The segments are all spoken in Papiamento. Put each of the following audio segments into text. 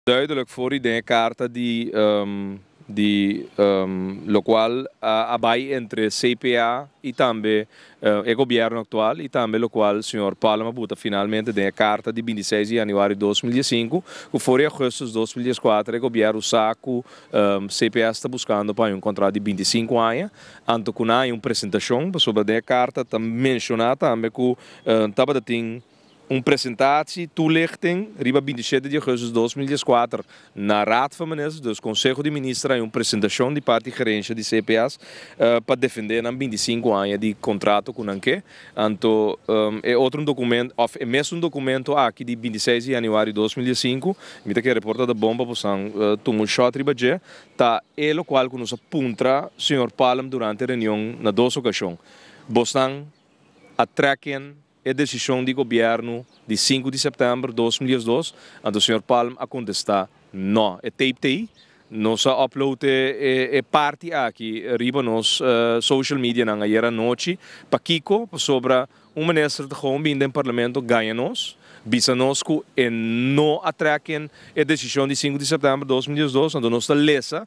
Duidelijk for di den e carta di di locual a bay entre CPA y tambe e gobierno actual y tambe locual señor Pallem a buta finalmente den e carta di binti seis di januari dos mil die sinku cu for di augustus dos mil dies kuater e gobierno sa cu CPA sta buscando pa haña un contrato di binti sinku aña anto cu nan haña un presentacion pasobra den e carta ta menciona tambe cu tabata tin Un presentatie toelichting riba binti shete di augustus dos mil dies kuater na Raad van Ministers, dus Konseho di Minister, un presentashon di parti Gerensia di CPAs pa defendé nan binti sinku aña di kontrato ku nan ke. Anto e otro un dokumento òf e mesun dokumento aki di binti seis di januario dos mil dies sinku, mi ta kere por ta ta bon pa bosan tuma un short riba dje, ta e lokual ku nos a puntra señor Palm durante reunion na dos okashon, Bosnan a trèk ken? E desishon di gobièrnu di sinku di sèptèmber dos mil diesdos, anto señor Palm a kontestá, Nò, e tape ta ei. Nos a upload e parti aki riba nos social medianan ayer anochi. Pakiko? Pasobra un minister ta gou bini den parlamento gaña nos, bisa nos ku e no a trèk ken e desishon di sinku di sèptèmber dos mil diesdos, anto nos ta lesa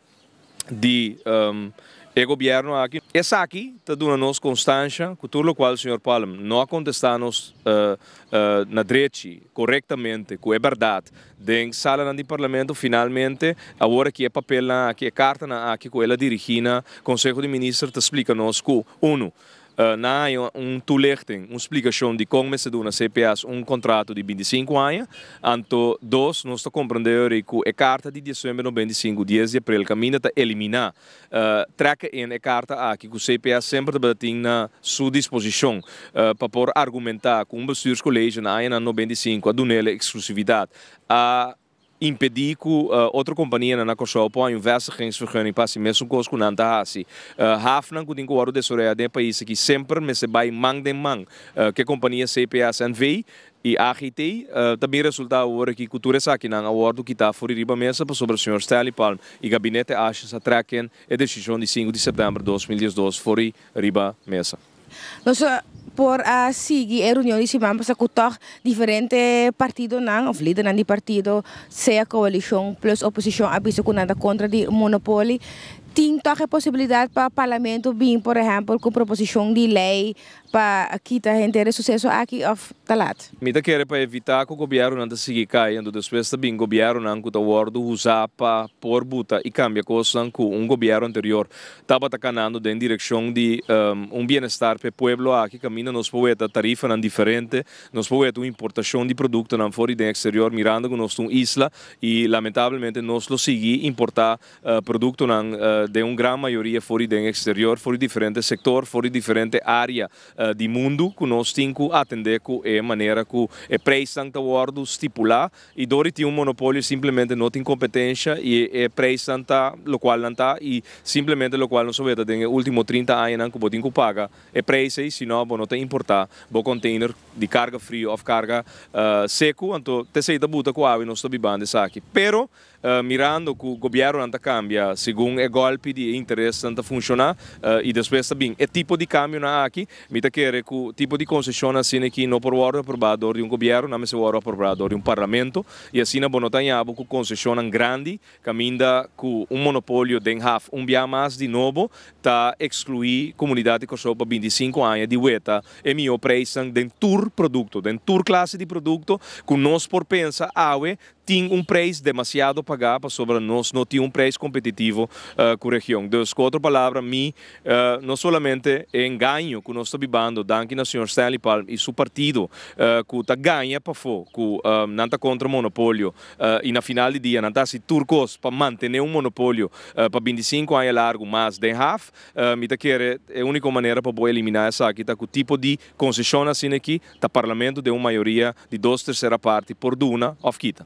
di e gobierno aki. Esaki ta duna nos konstansha ku tur lokual señor Palm no a kontestá nos na drechi, korektamente, ku e bèrdat den salanan di parlamento, finalmente awor aki e papelnan aki, e kartanan aki ku el a dirigí na Konseho di Minister ta splika nos ku, unu, Nan a haña un tulichten, un splikashon di kon mester duna cps un kontrato di binti sinku aña. Anto dos, nos ta komprendé ori ku e karta di diesuember nobenta i sinku, dies di aprel, kaminda ta eliminá. Trèk ein e karta aki ku cps semper tabata tin na su disposishon pa por argumentá ku un bestuurskolege na añanan nobenta i sinku a dun'el e eksklusividat. A. impedí ku otro kompanianan na Kòrsou por haña un vèstigingsvergunning pa hasi mesun kos ku nan ta hasi. Hafnan ku tin ku wòrdu desaroyá den e pais aki semper mester bai man den man ku e kompania CPS NV. i AGT. Ta bin resultá awor aki ku tur esakinan a wòrdu kitá afori riba mesa pasobra señor Stanley Palm i Gabinete Ashes a trèken e desishon di sinku di sèptèmber dos mil diesdos for i riba mesa. Nos por a sigui e reunion di siman pasa ku tòg diferente partidonan òf lidernan di partido sea koalishon plus oposishon a bisa ku nan ta kontra di monopoli tin tòg e posibilidat pa parlamento bin por ehèmpel ku proposishon di lei pa kita henter e suseso aki òf ta lat. Mi ta kere pa evitá ku gobièrnunan ta sigui kayendo despues ta bin gobièrnunan ku ta wòrdu usá pa por buta i kambia kosnan ku un gobièrnu anterior Tabata kanando den direkshon di un bienestar p'e pueblo aki, kaminda nos por weta tarifanan diferente, nos por weta un importashon di produktonan for i den eksterior, mirando ku nos ta un isla i lamentablemente nos lo sigui importá produktonan den un gran mayoria for i den eksterior, for i diferente sektor, for i diferente área di mundu ku nos tin ku atendé ku e manera ku e preisnan ta wòrdu stipulá. Y door di tin un monopolio simplemente no tin competencia y e prijsnan ta locual nan ta y simplemente locual nos a weta den e ultimo trinta añanan cu bo tin cu paga e prijs ey sino bo no ta importa bo container di carga frio of carga secu anto tesey ta buta cu awe nos ta biban di esaki pero mirando cu gobiernonan ta cambia segun e golpe di e interesnan ta funciona y despues ta bin e tipo di cambionan aki Mi ta kere ku tipo di konsesion asina aki no por wòrdu aprobá dor di un gobièrnu, nan mester wòrdu aprobrá dor di un parlamento, i asina bo no ta haña bo ku konsesionnan grandi kaminda ku un monopolio den haf. Un biaha mas di nobo ta ekskluí komunidat di Kòrsou pa binti i sinku aña di weta e mihó preisnan den tur produkto, den tur klase di produkto ku nos por pensa awe tin un prijs demasiado pagá pasobra nos no tin un prijs kompetitivo ku region. Dus ku otro palabra mi no solamente e engaño ku nos ta bibando danki na señor Stanley Palm i su partido ku ta gaña pafó ku nan ta kontra monopolio i na final di dia nan ta hasi tur kos pa mantené un monopolio pa bintisinku aña largu mas den haf. Mi ta kere e úniko manera pa bo eliminá esaki ta ku tipo di konseshon asina aki ta Parlamento den un mayoria di dos tersera parti por duna of kita.